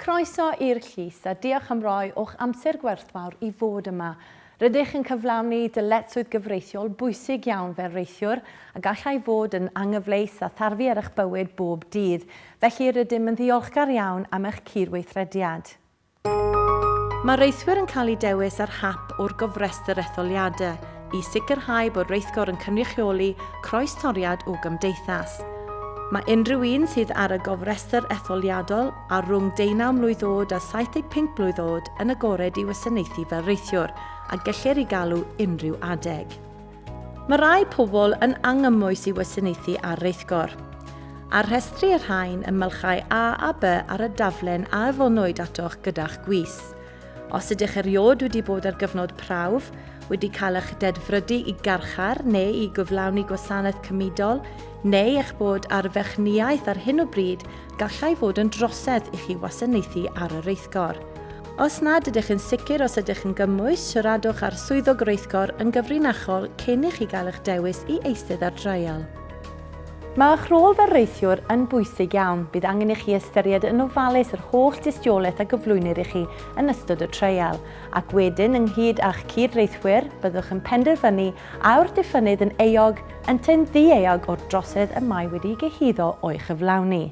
Croeso i'r llys a diolch am roi o'ch amser gwerthfawr i fod yma. Rydych yn cyflawni dyletswydd gyfreithiol bwysig iawn fel reithiwr a gallai fod yn anghyfleus a tharfu ar eich bywyd bob dydd, felly rydym yn ddiolchgar iawn am eich cyd-weithrediad. Mae rheithwyr yn cael eu dewis ar hap o'r gofrestr etholiadau i sicrhau bod rheithgor yn cynrychioli croestoriad o gymdeithas. Mae unrhyw un sydd ar y gofrestr etholiadol a rhwng deunaw mlwydd oed a 75 blwydd oed yn agored i wasanaethu fel reithiwr a gellir i galw unrhyw adeg. Mae rhai pobl yn angymwys i wasanaethu ar reithgor. Ar rhestri y rhain ym mylchau A a B ar y daflen a yfonwyd atoch gyda'ch gwis. Os ydych eriod wedi bod ar gyfnod prawf, wedi cael eich dedfrydu i garchar neu i gyflawni gwasanaeth cymudol, neu eich bod ar fechnïaeth ar hyn o bryd, gallai fod yn drosedd i chi wasanaethu ar y reithgor. Os nad ydych yn sicr os ydych yn gymwys, siaradwch â'r Swyddog Rheithgor yn gyfrinachol cyn i chi gael eich dewis i eistedd ar dreial. Mae eich rôl fel rheithiwr yn bwysig iawn. Bydd angen i chi ystyried yn ofalus yr holl dystiolaeth a gyflwynir i chi yn ystod y treial, ac wedyn, ynghyd â'ch cyd-reithwyr, byddwch yn penderfynu a yw'r diffynnydd yn euog ynteu'n ddi-euog o'r drosedd y mae wedi'i gyhuddo o'i chyflawni.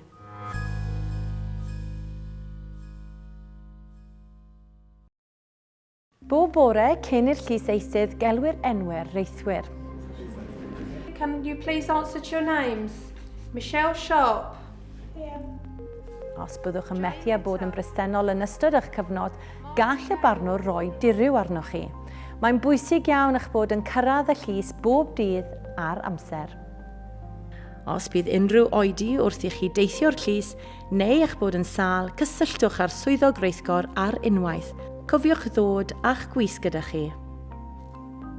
Bob bore cyn i'r llys eisydd gelwi'r enwau'r reithwyr. Can you please answer to your names? Michelle Sharp. Os byddwch yn methu â bod yn bresennol yn ystod eich cyfnod, gall y barnwr roi diriw arnoch chi. Mae'n bwysig iawn eich bod yn cyrraedd y llys bob dydd ar amser. Os bydd unrhyw oedi wrth i chi deithio'r llys neu eich bod yn sâl, cysylltwch â'r Swyddog Reithgor ar unwaith. Cofiwch ddod â'ch gwis gyda chi.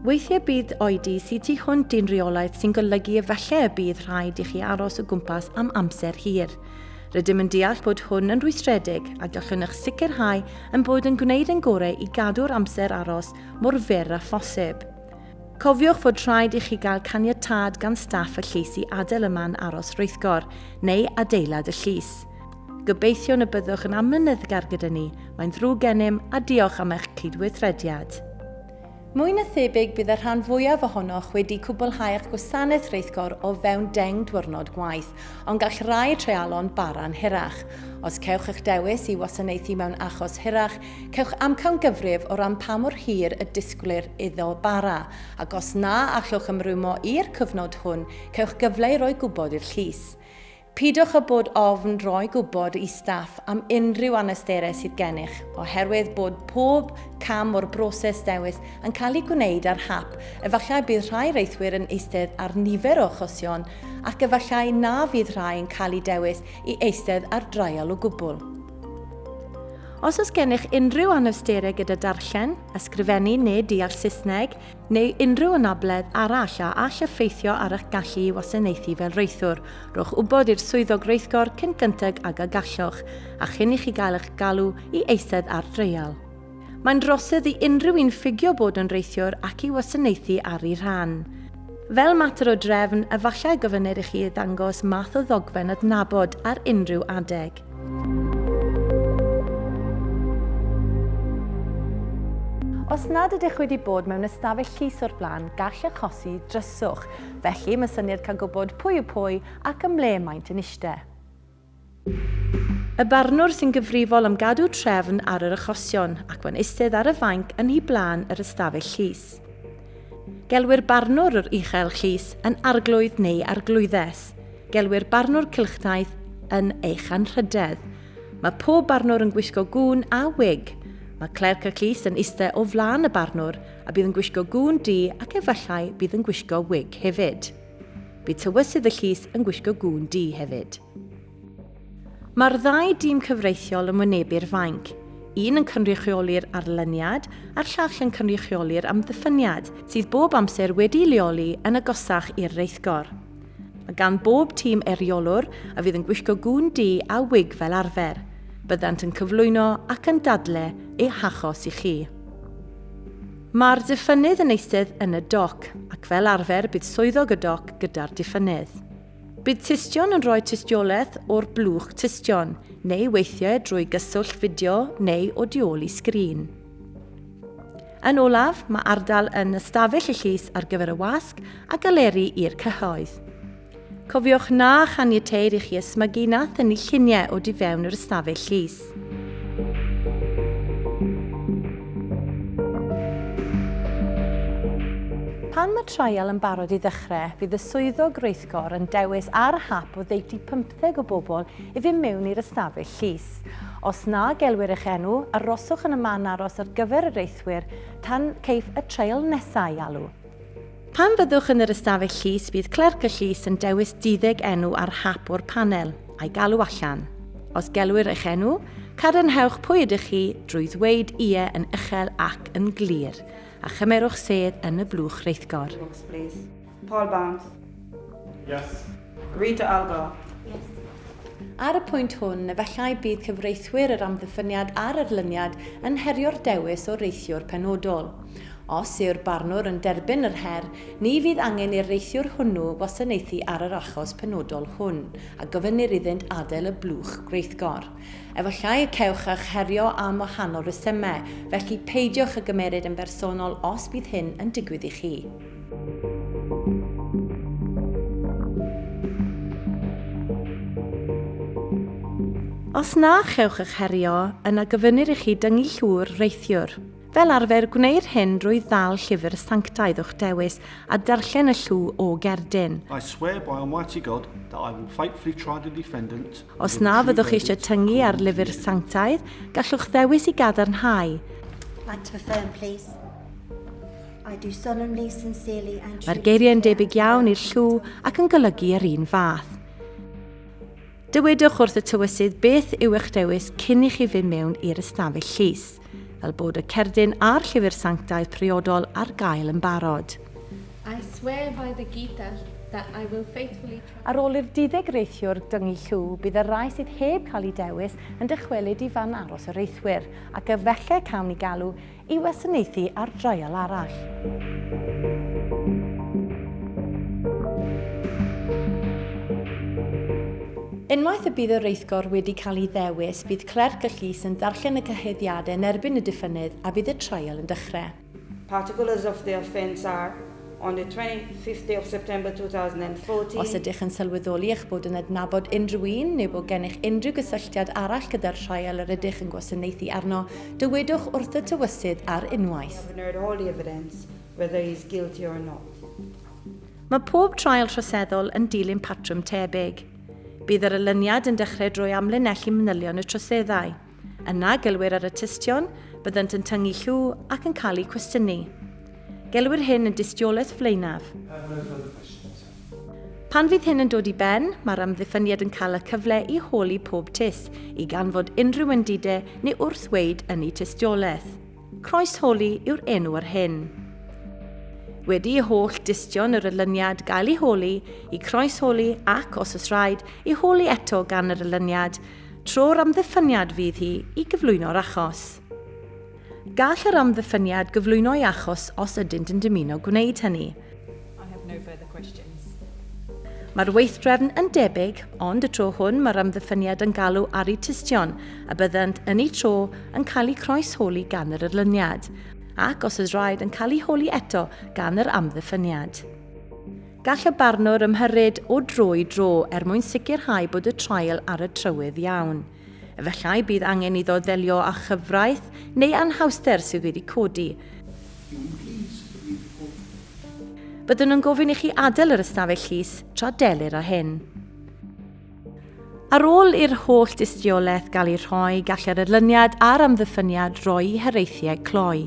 Weithiau bydd oedi sydd tu hwnt i'n rheolaeth sy'n golygu efallai y bydd rhaid i chi aros o gwmpas am amser hir. Rydym yn deall bod hwn yn rwystredig a gallwn eich sicrhau yn bod yn gwneud yn gorau i gadw'r amser aros mor fyr â phosib. Cofiwch fod rhaid i chi gael caniatâd gan staff y llys i adael y man aros rheithgor, neu adeilad y llys. Gobeithiwn y byddwch yn amyneddgar gyda ni, mae'n ddrwg gennym a diolch am eich cydweithrediad. Mwy na thebyg bydd y rhan fwyaf ohonoch wedi cwblhau eich gwasanaeth reithgor o fewn deng diwrnod gwaith, ond gall rai treialon bara'n hirach. Os cewch eich dewis i wasanaethu mewn achos hirach, Cewch amcangyfrif o ran pa mor hir y disgwylir iddo bara, ac os na allwch ymrwymo i'r cyfnod hwn, cewch gyfle i roi gwybod i'r llys. Peidiwch â bod ofn roi gwybod i staff am unrhyw anawsterau sydd gennych, oherwydd bod pob cam o'r broses dewis yn cael ei gwneud ar hap, efallai bydd rhai reithwyr yn eistedd ar nifer o achosion ac efallai na fydd rhai yn cael eu dewis i eistedd ar draial o gwbl. Os oes gennych unrhyw anawsterau gyda darllen, ysgrifennu neu deall Saesneg, neu unrhyw anabledd arall a all effeithio ar eich gallu i wasanaethu fel reithwr, rhowch wybod i'r Swyddog Reithgor cyn gynted ag y gallwch, a chyn i chi gael eich galw i eistedd ar dreial. Mae'n droseddf i unrhyw un ffugio bod yn reithiwr ac i wasanaethu ar eu rhan. Fel mater o drefn, efallai y gofynnir i chi ddangos math o ddogfen adnabod ar unrhyw adeg. Os nad ydych wedi bod mewn ystafell llys o'r blaen, gall achosi dryswch. Felly, mae syniad cael gwybod pwy yw pwy ac ym mle maent yn eistedd. Y barnwr sy'n gyfrifol am gadw trefn ar yr achosion ac mae'n eistedd ar y fainc yn hi blaen yr ystafell llys. Gelwir barnwr yr uchel llys yn arglwydd neu arglwyddes. Gelwir barnwr cylchdaith yn eich anrhydedd. Mae pob barnwr yn gwisgo gŵn a wig. Mae clerc y llys yn eistedd o flaen y barnwr a bydd yn gwisgo gŵn du ac efallai bydd yn gwisgo wig hefyd. Bydd tywysydd y llys yn gwisgo gŵn du hefyd. Mae'r ddau dîm cyfreithiol yn wynebu'r fainc, un yn cynrychioli'r arlyniad a'r llall yn cynrychioli'r amddiffyniad, sydd bob amser wedi'i leoli yn agosach i'r reithgor. Mae gan bob tîm eriolwr a fydd yn gwisgo gŵn du a wig fel arfer. Byddant yn cyflwyno ac yn dadle eu hachos i chi. Mae'r diffynnydd yn eistedd yn y doc, ac fel arfer bydd swyddog y doc gyda'r diffynnydd. Bydd tystion yn rhoi tystiolaeth o'r blwch tystion, neu weithiau drwy gyswllt fideo neu o du ôl i sgrin. Yn olaf, mae ardal yn ystafell y llys ar gyfer y wasg a galeri i'r cyhoedd. Cofiwch na chaniateir i chi ysmygu na thynnu lluniau o di fewn yr ystafell llys. Pan mae trial yn barod i ddechrau, bydd y swyddog reithgor yn dewis ar hap o ddeutu 50 deg o bobl i fynd mewn i'r ystafell llys. Os na gelwir eich enw, aroswch yn y man aros ar gyfer yr eithwyr tan ceiff y treil nesaf ei alw. Pan fyddwch yn yr ystafell llys, bydd clerc y llys yn dewis duddeg enw ar hap o'r panel, a'i galw allan. Os gelwir eich enw, cadarnhewch pwy ydych chi drwy ddweud ie yn uchel ac yn glir, a chymerwch sedd yn y blwch reithgor. Paul Barnes. Yes. Rita Algo. Yes. Ar y pwynt hwn, efallai bydd cyfreithwyr yr amddiffyniad a'r erlyniad yn herio'r dewis o reithiwr penodol. Os yw'r barnwr yn derbyn yr her, ni fydd angen i'r reithiwr hwnnw wasanaethu ar yr achos penodol hwn, a gofynnir iddynt adael y blwch gweithgor. Efallai y cewch eich herio am wahanol resymau, felly peidiwch â gymeryd yn bersonol os bydd hyn yn digwydd i chi. Os na chewch eich herio, yna gofynnir i chi dyngu llwr reithiwr. Fel arfer, gwneir hyn drwy ddal llyfr sanctaidd o'ch dewis a darllen y llw o gerdyn. I swear by Almighty God that I will faithfully try the defendant. Os na fyddwch eisiau tyngu ar lyfr sanctaidd, gallwch ddewis i gadarnhau. Like to affirm, please. Mae'r geiriau yn debyg iawn i'r llw ac yn golygu yr un fath. Dywedwch wrth y tywysydd beth yw eich dewis cyn i chi fy mewn i'r ystafell llys, fel bod y cerdyn a'r llyfr sanctaidd priodol ar gael yn barod. I swear by the Gita that I will faithfully... Ar ôl i'r duddeg reithiwr dyngu llw, bydd y rai sydd heb cael eu dewis yn dychwelyd i fan aros y reithwyr, ac efallai cawn ni galw i wasanaethu ar draul arall. Unwaith y bydd y rheithgor wedi cael ei ddewis, bydd clerc y llys yn darllen y cyhoeddiadau yn erbyn y diffynnydd a bydd y traul yn dechrau. Particles of the offence are On the 25th day of September 2014, Os ydych yn sylweddoli eich bod yn adnabod unrhyw un neu bod gennych unrhyw gysylltiad arall gyda'r trial yr ydych yn gwasanaethu arno, dywedwch wrth y Tywysydd ar unwaith. having heard all the evidence, whether he is guilty or not. Mae pob trial troseddol yn dilyn patrwm tebyg. Bydd yr olyniad yn dechrau drwy amlinellu manylion y troseddau. Yna, gelwir ar y tystion, byddant yn tyngu llw ac yn cael eu cwestiynu. Gelwir hyn yn dystiolaeth flaenaf. Pan fydd hyn yn dod i ben, mae'r amddiffyniad yn cael y cyfle i holi pob tys, i ganfod unrhyw undide neu wrth weid yn eu tystiolaeth. Croesholi yw'r enw ar hyn. Wedi i holl dystion yr elyniad gael ei holi, i croesholi ac, os oes rhaid, ei holi eto gan yr elyniad, Tro'r amddiffyniad fydd hi i gyflwyno'r achos. Gall yr amddiffyniad gyflwyno ei achos os ydynt yn dymuno gwneud hynny. I have no further questions. Mae'r weithdrefn yn debyg, ond y tro hwn mae'r amddiffyniad yn galw ar y tystion, a byddant yn eu tro yn cael eu croes-holi gan yr erlyniad, ac os oes rhaid yn cael eu holi eto gan yr amddiffyniad. Gall y barnwr ymhyrryd o dro i dro er mwyn sicrhau bod y traul ar y trywydd iawn. Efallai bydd angen iddo ddelio â chyfraith neu anhawster sydd wedi codi. Byddwn yn gofyn i chi adael yr ystafell llys tra delir â hyn. Ar ôl i'r holl dystiolaeth gael ei rhoi, gall yr erlyniad a'r amddiffyniad roi haraethiau cloi.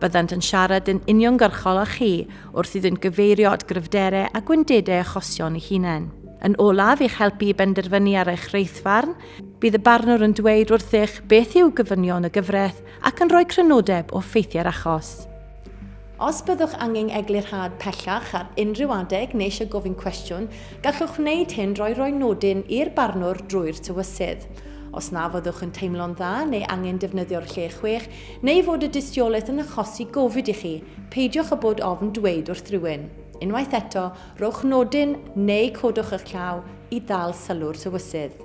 Byddant yn siarad yn uniongyrchol â chi wrth iddynt gyfeirio at gryfderau a gwendidau achosion ei hunain. Yn olaf, i'ch helpu i benderfynu ar eich reithfarn, bydd y barnwr yn dweud wrthych beth yw gofynion y gyfraith ac yn rhoi crynodeb o ffeithiau'r achos. Os byddwch angen eglurhad pellach ar unrhyw adeg neu eisiau gofyn cwestiwn, gallwch wneud hyn drwy roi nodyn i'r barnwr drwy'r tywysydd. Os na fyddwch yn teimlo'n dda neu angen defnyddio'r lle chwech, neu fod y dystiolaeth yn achosi gofid i chi, peidiwch â bod ofn dweud wrth rywun. Unwaith eto, rhowch nodyn neu codwch eich llaw i ddal sylw'r tywysydd.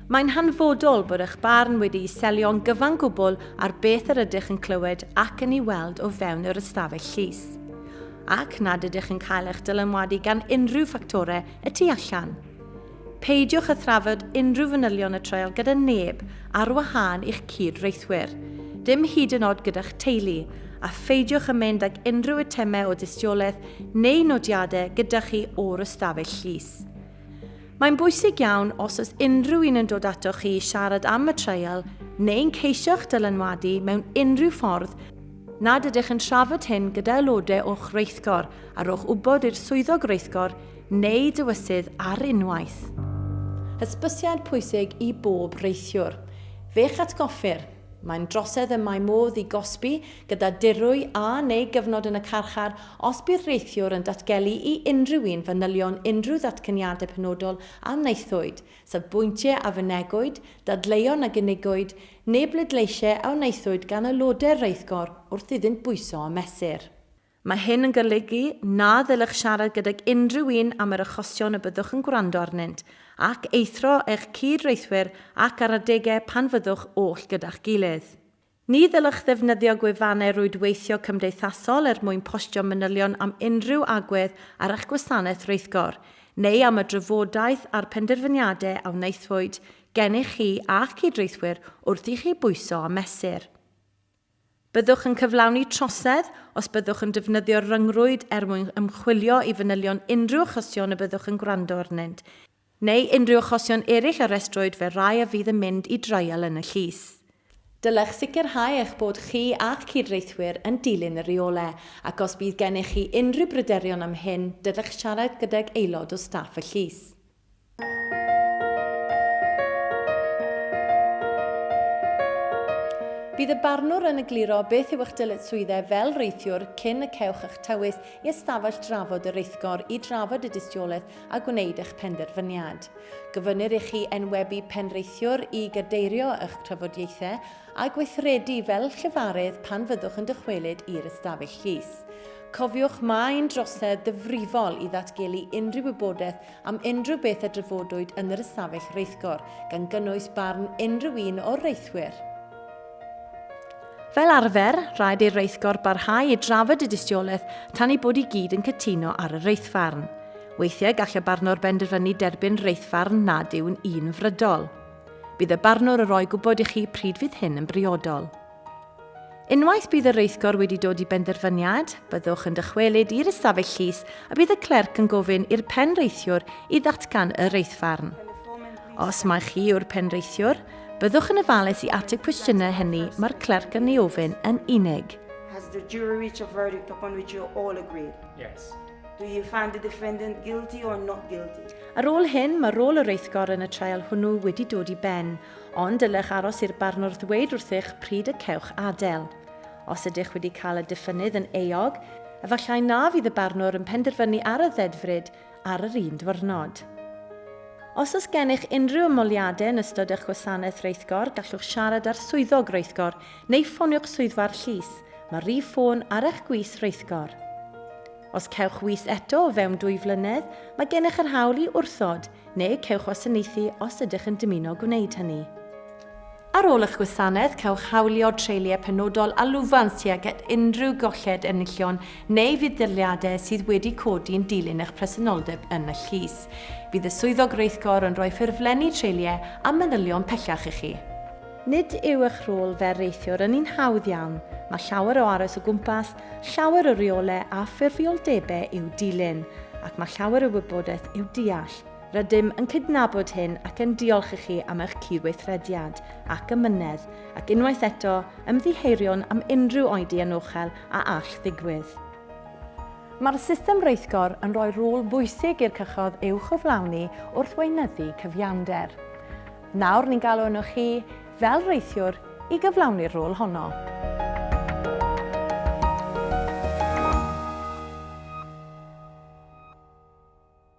Mae'n hanfodol bod eich barn wedi'i selio'n gyfan gwbl ar beth yr ydych yn clywed ac yn ei weld o fewn yr ystafell llys, ac nad ydych yn cael eich dylanwadu gan unrhyw ffactorau y tu allan. Peidiwch â thrafod unrhyw fanylion y treial gyda neb ar wahân i'ch cyd-reithwyr, dim hyd yn oed gyda'ch teulu, a pheidiwch â mynd ag unrhyw eitemau o dystiolaeth neu nodiadau gyda chi o'r ystafell llys. Mae'n bwysig iawn os oes unrhyw un yn dod ato chi i siarad am y treial neu'n ceisio'ch dylanwadu mewn unrhyw ffordd nad ydych yn trafod hyn gyda aelodau o'ch reithgor a rhowch wybod i'r swyddog reithgor neu dywysydd ar unwaith. Hysbysiad pwysig i bob rheithiwr. Fe'ch atgoffir, mae'n drosedd y mae modd i gosbi gyda dirwy a neu gyfnod yn y carchar os bu'r reithiwr yn datgelu i unrhyw un fanylion unrhyw ddatganiadau penodol a wnaethwyd, safbwyntiau a fynegwyd, dadleuon a gynigiwyd, neu bleidleisiau a wnaethwyd gan aelodau'r rheithgor wrth iddynt bwyso a mesur. Mae hyn yn golygu na ddylech siarad gydag unrhyw un am yr achosion y byddwch yn gwrando arnynt, ac eithrio eich cyd-reithwyr ac ar adegau pan fyddwch oll gyda'ch gilydd. Ni ddylech ddefnyddio gwefannau rwydweithio cymdeithasol er mwyn postio manylion am unrhyw agwedd ar eich gwasanaeth rheithgor, neu am y drafodaeth a'r penderfyniadau a wnaethpwyd gennych chi a'ch cyd-reithwyr wrth i chi bwyso a mesur. Byddwch yn cyflawni trosedd os byddwch yn defnyddio'r rhyngrwyd er mwyn ymchwilio i fanylion unrhyw achosion y byddwch yn gwrando arnynt, neu unrhyw achosion eraill a restrwyd fel rhai a fydd yn mynd i dreial yn y llys. Dylech sicrhau eich bod chi a'ch cyd-reithwyr yn dilyn y rheolau, ac os bydd gennych chi unrhyw bryderon am hyn, dylech siarad gydag aelod o staff y llys. Bydd y barnwr yn egluro beth yw eich dyletswyddau fel reithiwr cyn y cewch eich tywys i ystafell drafod y reithgor i drafod y dystiolaeth a gwneud eich penderfyniad. Gofynnir i chi enwebu penrheithiwr i gadeirio eich trafodiaethau a gweithredu fel llefarydd pan fyddwch yn dychwelyd i'r ystafell llys. Cofiwch mae'n drosedd ddyfrifol i ddatgelu unrhyw wybodaeth am unrhyw beth a drafodwyd yn yr ystafell reithgor, gan gynnwys barn unrhyw un o'r reithwyr. Fel arfer, rhaid i'r reithgor barhau i drafod y dystiolaeth tan ei bod i gyd yn cytuno ar y reithfarn. Weithiau gall y barnwr benderfynu derbyn reithfarn nad yw'n un frydol. Bydd y barnwr yn rhoi gwybod i chi pryd fydd hyn yn briodol. Unwaith bydd y reithgor wedi dod i benderfyniad, byddwch yn dychwelyd i'r ystafell llys a bydd y clerc yn gofyn i'r penreithiwr i ddatgan y reithfarn. Os mai chi yw'r penreithiwr, Byddwch yn ofalus i ateb cwestiynau hynny mae'r clerc yn ei ofyn yn unig. Has the jury reached a verdict upon which you all agree? Yes. Do you find the defendant guilty or not guilty? Ar ôl hyn, mae rôl yr eithgor yn y trial hwnnw wedi dod i ben, ond dylech aros i'r barnwr ddweud wrthych pryd y cewch adael. Os ydych wedi cael y diffynnydd yn euog, efallai na fydd y barnwr yn penderfynu ar y ddedfryd ar yr un diwrnod. Os oes gennych unrhyw ymholiadau yn ystod eich gwasanaeth reithgor, gallwch siarad â'r swyddog reithgor neu ffonio'ch swyddfa'r llys, mae'r rhif ffôn ar eich gwis reithgor. Os cewch wis eto o fewn dwy flynedd, mae gennych yr hawl i wrthod, neu cewch wasanaethu os ydych yn dymuno gwneud hynny. Ar ôl eich gwasanaeth, cewch hawlio treuliau penodol a lwfans tuag at unrhyw golled enillion neu fudd-daliadau sydd wedi codi yn dilyn eich presenoldeb yn y llys. Bydd y Swyddog Rheithgor yn rhoi ffurflenni treuliau a manylion pellach i chi. Nid yw eich rôl fel reithiwr yn un hawdd iawn, mae llawer o aros o gwmpas, llawer o reolau a ffurfioldebau i'w dilyn, ac mae llawer o wybodaeth i'w deall. Rydym yn cydnabod hyn ac yn diolch i chi am eich cydweithrediad ac amynedd, ac unwaith eto, ymddiheuriwn am unrhyw oedi anochel a all ddigwydd. Mae'r system rheithgor yn rhoi rôl bwysig i'r cychod i'w chyflawni wrth weinyddu cyfiawnder. Nawr ni'n galw arnoch chi, fel rheithiwr, i gyflawni'r rôl honno.